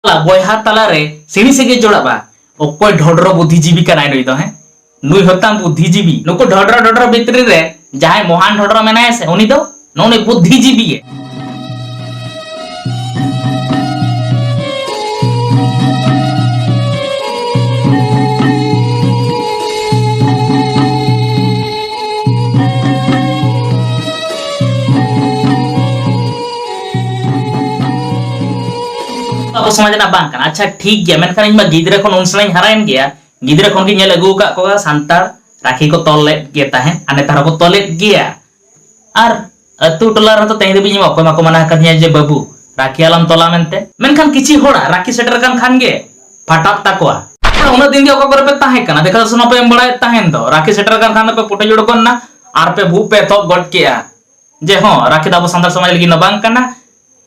ᱵᱚᱭᱦᱟ ᱛᱟᱞᱟ ᱨᱮ ᱥᱤᱬᱤ ᱥᱮᱜᱮ ᱡᱚᱲᱟᱜᱼᱟ ᱚᱠᱚᱭ ᱰᱷᱚᱰᱨᱚ ᱵᱩᱫᱷᱤᱡᱤᱵᱤ ᱠᱟᱱᱟᱭ ᱱᱩᱭ ᱫᱚ ᱦᱮᱸ ᱱᱩᱭ ᱦᱚᱛᱟᱝ ᱵᱩᱫᱷᱤᱡᱤᱵᱤ ᱱᱩᱠᱩ ᱰᱷᱚᱰᱨᱚ ᱰᱷᱚᱰᱨᱚ ᱵᱷᱤᱛᱨᱤ ᱨᱮ ᱡᱟᱦᱟᱸᱭ ᱢᱚᱦᱟᱱ ᱰᱷᱚᱰᱨᱚ ᱢᱮᱱᱟᱭᱟ ᱥᱮ ᱩᱱᱤ ᱫᱚ ᱱᱚᱜᱼᱚᱭ ᱵᱩᱫᱷᱤᱡᱤᱵᱤ ᱜᱮ ᱟᱵᱚ ᱥᱚᱢᱟᱡᱽ ᱨᱮᱱᱟᱜ ᱵᱟᱝ ᱠᱟᱱᱟ ᱟᱪᱪᱷᱟ ᱴᱷᱤᱠ ᱜᱮᱭᱟ ᱢᱮᱱᱠᱷᱟᱱ ᱤᱧ ᱢᱟ ᱜᱤᱫᱽᱨᱟᱹ ᱠᱷᱚᱱ ᱩᱱ ᱥᱮᱬᱟᱧ ᱦᱟᱨᱟᱭᱮᱱ ᱜᱮᱭᱟ ᱜᱤᱫᱽᱨᱟᱹ ᱠᱷᱚᱱ ᱜᱤᱧ ᱧᱮᱞ ᱟᱹᱜᱩ ᱟᱠᱟᱫ ᱠᱚᱣᱟ ᱥᱟᱱᱛᱟᱲ ᱨᱟᱠᱷᱤ ᱠᱚ ᱛᱚᱞ ᱞᱮᱫ ᱜᱮ ᱛᱟᱦᱮᱸᱫ ᱟᱨ ᱱᱮᱛᱟᱨ ᱦᱚᱸᱠᱚ ᱛᱚᱞᱮᱫ ᱜᱮᱭᱟ ᱟᱨ ᱟᱹᱛᱩ ᱴᱚᱞᱟ ᱨᱮᱦᱚᱸ ᱛᱚ ᱛᱮᱦᱮᱧ ᱫᱷᱟᱹᱵᱤᱡ ᱤᱧ ᱚᱠᱚᱭ ᱢᱟᱠᱚ ᱢᱟᱱᱟ ᱟᱠᱟᱫᱤᱧᱟ ᱡᱮ ᱵᱟᱹᱵᱩ ᱨᱟᱠᱷᱤ ᱟᱞᱚᱢ ᱛᱚᱞᱟ ᱢᱮᱱᱛᱮ ᱢᱮᱱᱠᱷᱟᱱ ᱠᱤᱪᱷᱤ ᱦᱚᱲᱟᱜ ᱨᱟᱠᱷᱤ ᱥᱮᱴᱮᱨ ᱟᱠᱟᱱ ᱠᱷᱟᱱ ᱜᱮ ᱯᱷᱟᱴᱟᱜ ᱛᱟᱠᱚᱣᱟ ᱩᱱᱟᱹᱜ ᱫᱤᱱ ᱜᱮ ᱚᱠᱟ ᱠᱚᱨᱮ ᱯᱮ ᱛᱟᱦᱮᱸ ᱠᱟᱱᱟ ᱫᱮᱠᱷᱟ ᱫᱚᱥᱚᱱ ᱦᱚᱸᱯᱮ ᱮᱢ ᱵᱟᱲᱟᱭᱮᱫ ᱛᱟᱦᱮᱱ ᱫᱚ ᱨᱟᱠᱷᱤ ᱥᱮᱴᱮᱨ ᱟᱠᱟᱱ ᱠᱷᱟᱱ ᱫᱚᱯᱮ ᱯᱩᱴᱟᱹ ᱡᱩᱲᱩ ᱜᱚᱫ ᱮᱱᱟ ᱟᱨ ᱯᱮ ᱵᱷᱩᱜ ᱯᱮ ᱮᱛᱚᱦᱚᱵ ᱜᱚᱫ ᱠᱮᱜᱼᱟ ᱡᱮ ᱦᱚᱸ ᱨᱟᱠᱷᱤ ᱫᱚ ᱟᱵᱚ ᱥᱟᱱᱛᱟᱲ ᱥᱚᱢᱟᱡᱽ ᱞᱟᱹᱜᱤᱫ ᱫᱚ ᱵᱟᱝ ᱠᱟᱱᱟ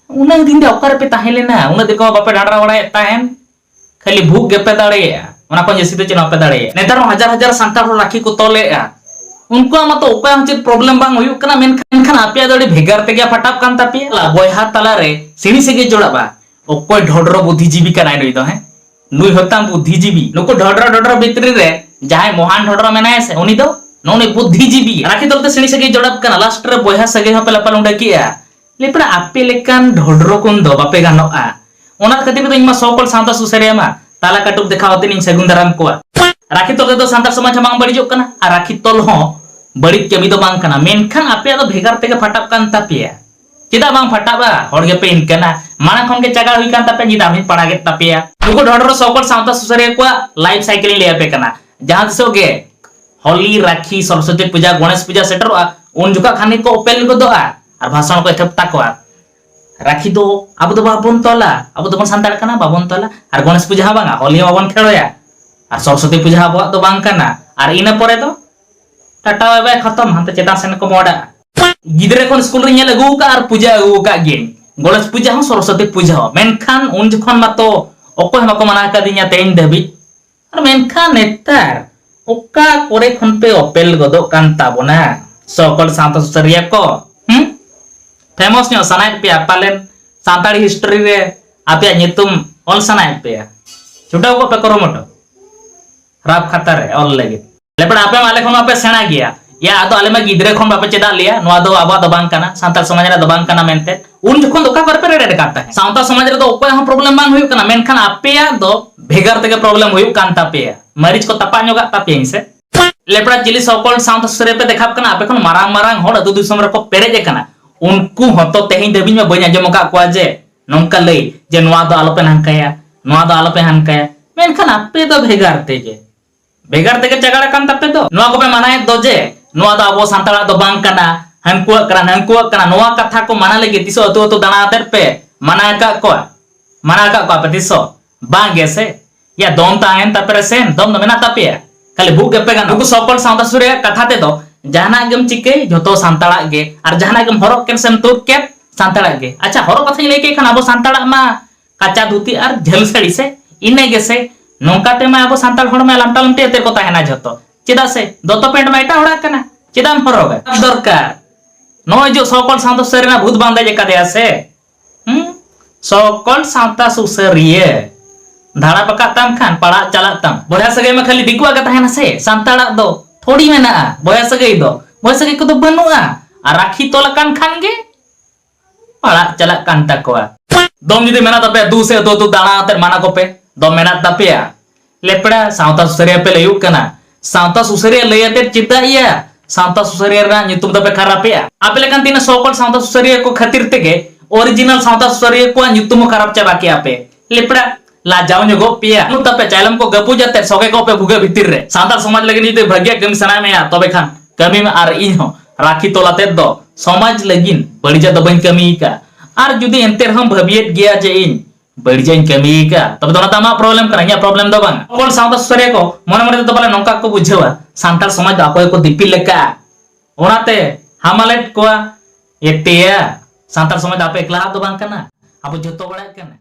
ᱩᱱᱟᱹᱜ ᱫᱤᱱ ᱫᱚ ᱚᱠᱟᱨᱮ ᱯᱮ ᱛᱟᱦᱮᱸ ᱞᱮᱱᱟ ᱩᱱᱟᱹᱜ ᱫᱤᱱ ᱠᱚ ᱵᱟᱯᱮ ᱰᱟᱸᱰᱨᱟ ᱵᱟᱲᱟᱭᱮᱫ ᱛᱟᱦᱮᱱ ᱠᱷᱟᱹᱞᱤ ᱵᱷᱩᱜ ᱜᱮᱯᱮ ᱫᱟᱲᱮᱭᱟᱜᱼᱟ ᱚᱱᱟ ᱠᱷᱚᱱ ᱡᱟᱹᱥᱛᱤ ᱫᱚ ᱪᱮᱫ ᱦᱚᱸ ᱵᱟᱯᱮ ᱫᱟᱲᱮᱭᱟᱜᱼᱟ ᱱᱮᱛᱟᱨ ᱦᱚᱸ ᱦᱟᱡᱟᱨ ᱦᱟᱡᱟᱨ ᱥᱟᱱᱛᱟᱲ ᱦᱚᱲ ᱨᱟᱠᱷᱤ ᱠᱚ ᱛᱚᱞᱮᱫᱼᱟ ᱩᱱᱠᱩᱣᱟᱜ ᱢᱟᱛᱚ ᱚᱠᱚᱭ ᱦᱚᱸ ᱪᱮᱫ ᱯᱨᱚᱵᱞᱮᱢ ᱵᱟᱝ ᱦᱩᱭᱩᱜ ᱠᱟᱱᱟ ᱢᱮᱱᱠᱷᱟᱱ ᱟᱯᱮᱭᱟᱜ ᱫᱚ ᱟᱹᱰᱤ ᱵᱷᱮᱜᱟᱨ ᱛᱮᱜᱮ ᱯᱷᱟᱴᱟᱯ ᱠᱟᱱ ᱛᱟᱯᱮᱭᱟ ᱵᱚᱭᱦᱟ ᱛᱟᱞᱟᱨᱮ ᱥᱤᱬᱤ ᱥᱮᱜᱮ ᱡᱚᱲᱟᱜᱼᱟ ᱚᱠᱚᱭ ᱰᱷᱚᱰᱨᱚ ᱵᱩᱫᱷᱤᱡᱤᱵᱤ ᱠᱟᱱᱟᱭ ᱱᱩᱭ ᱫᱚ ᱦᱮᱸ ᱱᱩᱭ ᱦᱚᱛᱟᱝ ᱵᱩᱫᱽᱫᱷᱤᱡᱤᱵᱤ ᱱᱩᱠᱩ ᱰᱷᱚᱰᱨᱚ ᱰᱷᱚᱰᱨᱚ ᱵᱷᱤᱛᱨᱤ ᱨᱮ ᱡᱟᱦᱟᱸᱭ ᱢᱚᱦᱟᱱ ᱰᱷᱚᱰᱨᱚ ᱢᱮᱱᱟᱭᱟ ᱥᱮ ᱩᱱᱤ ᱫᱚ ᱱᱚᱱᱮ ᱵᱩᱫᱽᱫᱷᱤᱡᱤᱵᱤ ᱨᱟᱠᱷᱤ ᱫᱚᱞ ᱛᱮ ᱥᱤᱬᱤ ᱥᱟᱹᱜᱟᱹᱭ ᱡᱚᱲᱟᱯ ᱠᱟᱱᱟ ᱞᱟᱥᱴ ᱨᱮ ᱵᱚᱭᱦᱟ ᱥᱟᱹᱜᱟᱹᱭ ᱦᱚᱸᱯᱮ ᱞᱟᱯᱟᱞ ᱩᱸᱰᱟᱹ ᱠᱮᱜᱼᱟ ᱞᱮᱯᱲᱟ ᱟᱯᱮ ᱞᱮᱠᱟᱱ ᱰᱷᱚᱰᱨᱚ ᱠᱚᱱ ᱫᱚ ᱵᱟᱯᱮ ᱜᱟᱱᱚᱜᱼᱟ ᱚᱱᱟ ᱠᱷᱟᱹᱛᱤᱨ ᱫᱚ ᱤᱧ ᱢᱟ ᱥᱚᱠᱚᱞ ᱥᱟᱶᱛᱟ ᱥᱩᱥᱟᱹᱨᱤᱭᱟᱹ ᱢᱟ ᱛᱟᱞᱟ ᱠᱟᱹᱴᱩᱵ ᱫᱮᱠᱷᱟᱣ ᱟᱛᱮ ᱤᱧ ᱥᱟᱹᱜᱩᱱ ᱫᱟᱨᱟᱢ ᱠᱚᱣᱟ ᱨᱟᱠᱷᱤ ᱛᱚᱞ ᱛᱮᱫᱚ ᱥᱟᱱᱛᱟᱲ ᱥᱚᱢᱟᱡᱽ ᱦᱚᱸ ᱵᱟᱝ ᱵᱟᱹᱲᱤᱡᱚᱜ ᱠᱟᱱᱟ ᱟᱨ ᱨᱟᱠᱷᱤ ᱛᱚᱞ ᱦᱚᱸ ᱵᱟᱹᱲᱤᱡ ᱠᱟᱹᱢᱤ ᱫᱚ ᱵᱟᱝ ᱠᱟᱱᱟ ᱢᱮᱱᱠᱷᱟᱱ ᱟᱯᱮᱭᱟᱜ ᱫᱚ ᱵᱷᱮᱜᱟᱨ ᱛᱮᱜᱮ ᱯᱷᱟᱴᱟᱜ ᱠᱟᱱ ᱛᱟᱯᱮᱭᱟ ᱪᱮᱫᱟᱜ ᱵᱟᱝ ᱯᱷᱟᱴᱟᱜᱼᱟ ᱦᱚᱲ ᱜᱮᱯᱮ ᱤᱱᱠᱟᱹᱱᱟ ᱢᱟᱲᱟᱝ ᱠᱷᱚᱱ ᱜᱮ ᱪᱟᱜᱟᱲ ᱦᱩᱭ ᱠᱟᱱ ᱛᱟᱯᱮ ᱧᱤᱫᱟᱢ ᱦᱚᱸᱧ ᱯᱟᱲᱟᱜᱮᱫ ᱛᱟᱯᱮᱭᱟ ᱱᱩᱠᱩ ᱰᱷᱚᱰᱨᱚ ᱥᱚᱠᱚᱞ ᱥᱟᱶᱛᱟ ᱥᱩᱥᱟᱹᱨᱤᱭᱟᱹ ᱠᱚᱣᱟᱜ ᱞᱟᱭᱤᱯ ᱥᱟᱭᱠᱮᱞ ᱞᱟᱹᱭ ᱟᱯᱮ ᱠᱟᱱᱟ ᱡᱟᱦᱟᱸ ᱛᱤᱥᱚᱜ ᱜᱮ ᱦᱚᱞᱤ ᱨᱟᱠᱷᱤ ᱥᱚᱨᱚᱥᱚᱛᱤ ᱯᱩᱡᱟ ᱜᱚणᱮᱥ ᱯᱩᱡᱟ ᱥᱮᱴᱮᱨᱚᱜᱼᱟ ᱩᱱ ᱡᱚᱠᱷᱟ ᱠᱷᱟᱱ ᱜᱮᱠᱚ ᱚᱯᱮᱞ ᱜᱚᱫᱚᱜᱼᱟ ᱟᱨ ᱵᱷᱟᱥᱚᱱ ᱠᱚ ᱮᱛᱚᱦᱚᱵ ᱛᱟᱠᱚᱣᱟ ᱨᱟᱠᱷᱤ ᱫᱚ ᱟᱵᱚ ᱫᱚ ᱵᱟᱵᱚᱱ ᱛᱚᱞᱟ ᱟᱵᱚ ᱫᱚᱵᱚᱱ ᱥᱟᱱᱛᱟᱲ ᱠᱟᱱᱟ ᱵᱟᱵᱚᱱ ᱛᱚᱞᱟ ᱟᱨ ᱜᱚणᱮᱥ ᱯᱩᱡᱟ ᱦᱚᱸ ᱵᱟᱝᱟ ᱦᱚᱞᱤ ᱦᱚᱸ ᱵᱟᱵᱚᱱ ᱠᱷᱮᱲᱚᱭᱟ ᱟᱨ ᱥᱚᱨᱚᱥᱚᱛᱤ ᱯᱩᱡᱟ ᱦᱚᱸ ᱟᱵᱚᱣᱟᱜ ᱫᱚ ᱵᱟᱝ ᱠᱟᱱᱟ ᱟᱨ ᱤᱱᱟᱹ ᱯᱚᱨᱮ ᱫᱚ ᱴᱟᱴᱟ ᱵᱟᱭ ᱵᱟᱭ ᱠᱷᱚᱛᱚᱢ ᱦᱟᱱᱛᱮ ᱪᱮᱛᱟᱱ ᱥᱮᱱ ᱠᱚ ᱢᱚᱦᱰᱟᱜᱼᱟ ᱜᱤᱫᱽᱨᱟᱹ ᱠᱷᱚᱱ ᱥᱠᱩᱞ ᱨᱮ ᱧᱮᱞ ᱟᱹᱜᱩ ᱟᱠᱟᱫ ᱟᱨ ᱯᱩᱡᱟᱹ ᱟᱹᱜᱩ ᱟᱠᱟᱫ ᱜᱮ ᱜᱚᱬᱮᱥ ᱯᱩᱡᱟᱹ ᱦᱚᱸ ᱥᱚᱨᱚᱥᱚᱛᱤ ᱯᱩᱡᱟᱹ ᱦᱚᱸ ᱢᱮᱱᱠᱷᱟᱱ ᱩᱱ ᱡᱚᱠᱷᱚᱱ ᱢᱟᱛᱚ ᱚᱠᱚᱭ ᱦᱚᱸ ᱵᱟᱠᱚ ᱢᱟᱱᱟ ᱟᱠᱟᱫᱤᱧᱟ ᱛᱮᱦᱮᱧ ᱫᱷᱟᱹᱵᱤᱡ ᱟᱨ ᱢᱮᱱᱠᱷᱟᱱ ᱱᱮᱛᱟᱨ ᱚᱠᱟ ᱠᱚᱨᱮ ᱠᱷᱚᱱ ᱯᱮ ᱚᱯᱮᱞ ᱜᱚᱫᱚᱜ ᱠᱟᱱ ᱛᱟᱵᱚᱱᱟ ᱥᱚᱠᱚᱞ ᱥᱟᱶᱛᱟ ᱥᱩᱥᱟᱹᱨᱤᱭᱟᱹ ᱠᱚ ᱦᱩᱸ ᱯᱷᱮᱢᱚᱥ ᱧᱚᱜ ᱥᱟᱱᱟᱭᱮᱫ ᱯᱮᱭᱟ ᱯᱟᱞᱮᱱ ᱥᱟᱱᱛᱟᱲᱤ ᱦᱤᱥᱴᱨᱤ ᱨᱮ ᱟᱯᱮᱭᱟᱜ ᱧᱩᱛᱩᱢ ᱚᱞ ᱥᱟᱱᱟᱭᱮᱫ ᱯᱮᱭᱟ ᱪᱷᱩᱴᱟᱹᱣ ᱠᱚᱜ ᱯᱮ ᱠᱩᱨᱩᱢᱩᱴᱩ ᱨᱟᱯ ᱠᱷᱟᱛᱟ ᱨᱮ ᱚᱞ ᱞᱟᱹᱜᱤᱫ ᱞᱮᱯᱟᱲ ᱟᱯᱮ ᱢᱟ ᱟᱞᱮ ᱠᱷᱚᱱ ᱟᱯᱮ ᱥᱮᱬᱟ ᱜᱮᱭᱟ ᱭᱟ ᱟᱫᱚ ᱟᱞᱮ ᱢᱟ ᱜᱤᱫᱽᱨᱟᱹ ᱠᱷᱚᱱ ᱵᱟᱯᱮ ᱪᱮᱫᱟᱜ ᱞᱮᱭᱟ ᱱᱚᱣᱟ ᱫᱚ ᱟᱵᱚᱣᱟᱜ ᱫᱚ ᱵᱟᱝ ᱠᱟᱱᱟ ᱥᱟᱱᱛᱟᱲ ᱥᱚᱢᱟᱡᱽ ᱨᱮ ᱫᱚ ᱵᱟᱝ ᱠᱟᱱᱟ ᱢᱮᱱᱛᱮ ᱩᱱ ᱡᱚᱠᱷᱚᱱ ᱫᱚ ᱚᱠᱟ ᱠᱚᱨᱮ ᱯᱮ ᱨᱮᱰᱮᱰ ᱠᱟᱱ ᱛᱟᱦᱮᱸ ᱥᱟᱶᱛᱟ ᱥᱚᱢᱟᱡᱽ ᱨᱮ ᱫᱚ ᱚᱠᱚᱭ ᱦᱚᱸ ᱯᱨᱚᱵᱞᱮᱢ ᱵᱟᱝ ᱦᱩᱭᱩᱜ ᱠᱟᱱᱟ ᱢᱮᱱᱠᱷᱟᱱ ᱟᱯᱮᱭᱟᱜ ᱫᱚ ᱵᱷᱮᱜᱟᱨ ᱛᱮᱜᱮ ᱯᱨᱚᱵᱞᱮᱢ ᱦᱩᱭᱩᱜ ᱠᱟᱱ ᱛᱟᱯᱮᱭᱟ ᱢᱟᱹᱨᱤᱪ ᱠᱚ ᱛᱟᱯᱟ ᱧᱚᱜᱟᱜ ᱛᱟᱯᱮᱭᱟᱹᱧ ᱥᱮ ᱞᱮᱯᱲᱟ ᱪᱤᱞᱤ ᱥᱚᱠᱚᱞ ᱥᱟᱶᱛᱟ ᱥᱩᱥᱟᱹᱨᱤᱭᱟᱹ ᱯᱮ ᱫᱮᱠᱷᱟᱯ ᱠᱟᱱᱟ ᱟᱯᱮ ᱠᱷᱚᱱ ᱢᱟᱨᱟᱝ ᱢᱟᱨᱟᱝ ᱦᱚᱲ ᱟᱹᱛᱩ ᱫᱤᱥᱚᱢ ᱨᱮᱠᱚ ᱯᱮᱨᱮᱡ ᱟᱠᱟᱱᱟ ᱩᱱᱠᱩ ᱦᱚᱸᱛᱚ ᱛᱮᱦᱮᱧ ᱫᱷᱟᱹᱵᱤᱡ ᱢᱟ ᱵᱟᱹᱧ ᱟᱸᱡᱚᱢ ᱟᱠᱟᱫ ᱠᱚᱣᱟ ᱡᱮ ᱱᱚᱝᱠᱟ ᱞᱟᱹᱭ ᱡᱮ ᱱᱚᱣᱟ ᱫᱚ ᱟᱞᱚᱯᱮ ᱱᱟᱝᱠᱟᱭᱟ ᱱᱚᱣᱟ ᱫᱚ ᱟᱞᱚᱯᱮ ᱦᱟᱱᱠᱟᱭᱟ ᱢᱮᱱᱠᱷᱟᱱ ᱟᱯᱮ ᱫᱚ ᱵᱷᱮᱜᱟᱨ ᱛᱮᱜᱮ ᱵᱷᱮᱜᱟᱨ ᱛᱮᱜᱮ ᱪᱟᱜᱟᱲ ᱟᱠᱟᱱ ᱛᱟᱯᱮ ᱫᱚ ᱱᱚᱣᱟ ᱠᱚᱯᱮ ᱢᱟᱱᱟᱭᱮᱫ ᱫᱚ ᱡᱮ ᱱᱚᱣᱟ ᱫᱚ ᱟᱵᱚ ᱥᱟᱱᱛᱟᱲᱟᱜ ᱫᱚ ᱵᱟᱝ ᱠᱟᱱᱟ ᱦᱟᱱᱠᱩᱣᱟᱜ ᱠᱟᱱᱟ ᱱᱟᱝᱠᱩᱣᱟᱜ ᱠᱟᱱᱟ ᱱᱚᱣᱟ ᱠᱟᱛᱷᱟ ᱠᱚ ᱢᱟᱱᱟ ᱞᱟᱹᱜᱤᱫ ᱛᱤᱥᱚ ᱟᱹᱛᱩ ᱟᱹᱛᱩ ᱫᱟᱬᱟ ᱟᱛᱮᱫ ᱯᱮ ᱢᱟᱱᱟ ᱟᱠᱟᱫ ᱠᱚᱣᱟ ᱢᱟᱱᱟ ᱟᱠᱟᱫ ᱠᱚᱣᱟ ᱯᱮ ᱛᱤᱥᱚ ᱵᱟᱝ ᱜᱮᱥᱮ ᱭᱟ ᱫᱚᱢ ᱛᱟᱦᱮᱱ ᱛᱟᱯᱮ ᱨᱮ ᱥᱮᱱ ᱫᱚᱢ ᱫᱚ ᱢᱮᱱᱟᱜ ᱛᱟᱯᱮᱭᱟ ᱠᱷᱟᱹᱞᱤ ᱵᱷᱩᱜ ᱜᱮᱯᱮ ᱜᱟᱱᱚᱜ ᱱᱩᱠᱩ ᱥᱚᱠᱚᱞ ᱥᱟᱶᱛᱟ ᱥᱩᱨᱤᱭᱟ ᱠᱟᱛᱷᱟ ᱛᱮᱫᱚ ᱡᱟᱦᱟᱱᱟᱜ ᱜᱮᱢ ᱪᱤᱠᱟᱹᱭ ᱡᱷᱚᱛᱚ ᱥᱟᱱᱛᱟᱲᱟᱜ ᱜᱮ ᱟᱨ ᱡᱟᱦᱟᱱᱟᱜ ᱜᱮᱢ ᱦᱚᱨᱚᱜ ᱠᱮᱫ ᱥᱮᱢ ᱛᱩᱫ ᱠᱮᱫ ᱥᱟᱱᱛᱟᱲᱟᱜ ᱜᱮ ᱟᱪᱪᱷᱟ ᱦᱚᱨᱚᱜ ᱠᱟᱛᱷᱟᱧ ᱞᱟᱹᱭ ᱠᱮᱫ ᱠᱷᱟᱱ ᱟᱵᱚ ᱥᱟᱱᱛᱟᱲᱟᱜ ᱢᱟ ᱠᱟᱪᱟ ᱫᱷᱩᱛᱤ ᱟᱨ ᱡᱷᱟᱹᱞ ᱥᱟᱹᱲᱤ ᱥᱮ ᱤᱱᱟᱹ ᱜᱮᱥᱮ ᱱᱚᱝᱠᱟ ᱛᱮᱢᱟ ᱟᱵᱚ ᱥᱟᱱᱛᱟᱲ ᱦᱚᱲ ᱢᱟ ᱞᱟᱢᱴᱟ ᱞᱟᱢᱴᱤ ᱟᱛᱮ ᱠᱚ ᱛᱟᱦᱮᱱᱟ ᱡᱷᱚᱛᱚ ᱪᱮᱫᱟᱜ ᱥᱮ ᱫᱚᱛᱚ ᱯᱮᱱᱴ ᱢᱟ ᱮᱴᱟᱜ ᱦᱚᱲᱟᱜ ᱠᱟᱱᱟ ᱪᱮᱫᱟᱜ ᱮᱢ ᱦᱚᱨᱚᱜᱟ ᱫᱚᱨᱠᱟᱨ ᱱᱚᱜᱼᱚᱭ ᱡᱮ ᱥᱚᱠᱚᱞ ᱥᱟᱶᱛᱟ ᱥᱩᱨᱤᱭᱟ ᱨᱮᱱᱟᱜ ᱵᱷᱩᱛ ᱵᱟᱝ ᱫᱮᱡ ᱟᱠᱟᱫᱮᱭᱟ ᱥᱮ ᱦᱩᱸ ᱥᱚᱠᱚᱞ ᱥᱟᱶᱛᱟ ᱥᱩᱥᱟᱹᱨᱤᱭᱟᱹ ᱫᱷᱟᱲᱟ ᱵᱟᱠᱟᱜ ᱛᱟᱢ ᱠᱷᱟᱱ ᱯᱟᱲᱟᱜ ᱪᱟᱞᱟᱜ ᱛᱟᱢ ᱵᱚᱭᱦᱟ ᱥᱟᱹᱜᱟᱹᱭ ᱢᱟ ᱠᱷᱟᱹᱞᱤ ᱫᱤᱠᱩᱣᱟᱜ ᱜᱮ ᱛᱟᱦᱮᱱᱟ ᱥᱮ ᱥᱟᱱᱛᱟᱲᱟᱜ ᱫᱚ ᱛᱷᱚᱲᱤ ᱢᱮᱱᱟᱜᱼᱟ ᱵᱚᱭᱦᱟ ᱥᱟᱹᱜᱟᱹᱭ ᱫᱚ ᱵᱚᱭᱦᱟ ᱥᱟᱹᱜᱟᱹᱭ ᱠᱚᱫᱚ ᱵᱟᱹᱱᱩᱜᱼᱟ ᱟᱨ ᱨᱟᱠᱷᱤ ᱛᱚᱞ ᱟᱠᱟᱱ ᱠᱷᱟᱱ ᱜᱮ ᱯᱟᱲᱟᱜ ᱪᱟᱞᱟᱜ ᱠᱟᱱ ᱛᱟᱠᱚᱣᱟ ᱫᱚᱢ ᱡᱩᱫᱤ ᱢᱮᱱᱟᱜ ᱛᱟᱯᱮᱭᱟ ᱫᱩ ᱥᱮ ᱫᱚ ᱫᱩ ᱫᱟᱬᱟ ᱟᱛᱮ ᱢᱟᱱᱟ ᱠᱚᱯᱮ ᱫᱚᱢ ᱢᱮᱱᱟᱜ ᱛᱟᱯᱮᱭᱟ ᱞᱮᱯᱲᱟ ᱥᱟᱶᱛᱟ ᱥᱩᱥᱟᱹᱨᱤᱭᱟᱹ ᱯᱮ ᱞᱟᱹᱭᱩᱜ ᱠᱟᱱᱟ ᱥᱟᱶᱛᱟ ᱥᱩᱥᱟᱹᱨᱤᱭᱟᱹ ᱞᱟᱹᱭ ᱟᱛᱮᱫ ᱪᱮᱫᱟᱜ ᱤᱭᱟ ᱥᱟᱶᱛᱟ ᱥᱩᱥᱟᱹᱨᱤᱭᱟᱹ ᱨᱮᱱᱟᱜ ᱧᱩᱛᱩᱢ ᱫᱚᱯᱮ ᱠᱷᱟᱨᱟᱯᱮᱜᱼᱟ ᱟᱯᱮ ᱞᱮᱠᱟᱱ ᱛᱤᱱᱟᱹᱜ ᱥᱚ ᱠᱚᱞ ᱥᱟᱶᱛᱟ ᱥᱩᱥᱟᱹᱨᱤᱭᱟᱹ ᱠᱚ ᱠᱷᱟᱹᱛᱤᱨ ᱛᱮᱜᱮ ᱚᱨᱤᱡᱤᱱᱟᱞ ᱥᱟᱶᱛᱟ ᱥᱩᱥᱟᱹᱨᱤᱭᱟᱹ ᱠᱚᱣᱟᱜ ᱧᱩᱛᱩᱢ ᱦᱚᱸ ᱠᱷᱟᱨᱟᱯ ᱪᱟᱵᱟ ᱠᱮᱜᱼᱟ ᱯᱮ ᱞᱮᱯᱲᱟ ᱞᱟᱡᱟᱣ ᱧᱚᱜᱚᱜ ᱯᱮᱭᱟ ᱩᱱᱟᱹᱜ ᱛᱟᱯᱮ ᱪᱟᱭᱞᱚᱢ ᱠᱚ ᱜᱟᱹᱯᱩᱡ ᱟᱛᱮᱫ ᱥᱚᱜᱮ ᱠᱚᱜ ᱯᱮ ᱵᱷᱩᱜᱟᱹᱜ ᱵᱷᱤᱛᱤᱨ ᱨᱮ ᱥᱟᱱᱛᱟᱲ ᱥᱚᱢᱟᱡᱽ ᱞᱟᱹᱜᱤᱫ ᱡᱩᱫᱤ ᱵᱷᱟᱹᱜᱤᱭᱟᱜ ᱠᱟᱹᱢᱤ ᱥᱟᱱᱟᱭᱮᱫ ᱢᱮᱭᱟ ᱛᱚᱵᱮ ᱠᱷᱟᱱ ᱠᱟᱹᱢᱤ ᱢᱮ ᱟᱨ ᱤᱧ ᱦᱚᱸ ᱨᱟᱹᱠᱷᱤ ᱛᱚᱞ ᱟᱛᱮᱫ ᱫᱚ ᱥᱚᱢᱟᱡᱽ ᱞᱟᱹᱜᱤᱫ ᱵᱟᱹᱲᱤᱡᱟᱜ ᱫᱚ ᱵᱟᱹᱧ ᱠᱟᱹᱢᱤ ᱟᱠᱟᱫᱼᱟ ᱟᱨ ᱡᱩᱫᱤ ᱮᱱᱛᱮ ᱨᱮᱦᱚᱸᱢ ᱵᱷᱟᱹᱵᱤᱭᱮᱫ ᱜᱮᱭᱟ ᱡᱮ ᱤᱧ ᱵᱟᱹᱲᱤᱡᱟᱹᱧ ᱠᱟᱹᱢᱤ ᱟᱠᱟᱫᱼᱟ ᱛᱚᱵᱮ ᱫᱚ ᱚᱱᱟ ᱫᱚ ᱟᱢᱟᱜ ᱯᱨᱚᱵᱞᱮᱢ ᱠᱟᱱᱟ ᱤᱧᱟᱹᱜ ᱯᱨᱚᱵᱞᱮᱢ ᱫᱚ ᱵᱟᱝ ᱚᱠᱚᱭ ᱥᱟᱶᱛᱟ ᱥᱩᱥᱟᱹᱨᱤᱭᱟᱹ ᱠᱚ ᱢᱚᱱᱮ ᱢᱚᱱᱮ ᱛᱮᱫᱚ ᱯᱟᱞᱮ ᱱᱚᱝᱠᱟ ᱠᱚ ᱵᱩᱡᱷᱟᱹᱣᱟ ᱥᱟᱱᱛᱟᱲ ᱥᱚᱢᱟᱡᱽ ᱫᱚ ᱚᱠᱚᱭ ᱠᱚ ᱫᱤᱯᱤᱞ ᱟᱠᱟᱫᱼᱟ ᱚᱱᱟᱛᱮ ᱦᱟᱢᱟᱞᱮᱫ ᱠᱚᱣᱟ ᱮᱛᱮᱭᱟ ᱥᱟᱱᱛᱟᱲ ᱥᱚᱢᱟᱡᱽ ᱫᱚ ᱟᱯᱮ ᱮᱠᱞᱟᱣᱟᱜ ᱫᱚ ᱵᱟᱝ ᱠᱟᱱᱟ ᱟᱵᱚ ᱡᱚᱛᱚ ᱦᱚᱲᱟᱜ ᱠᱟᱱᱟ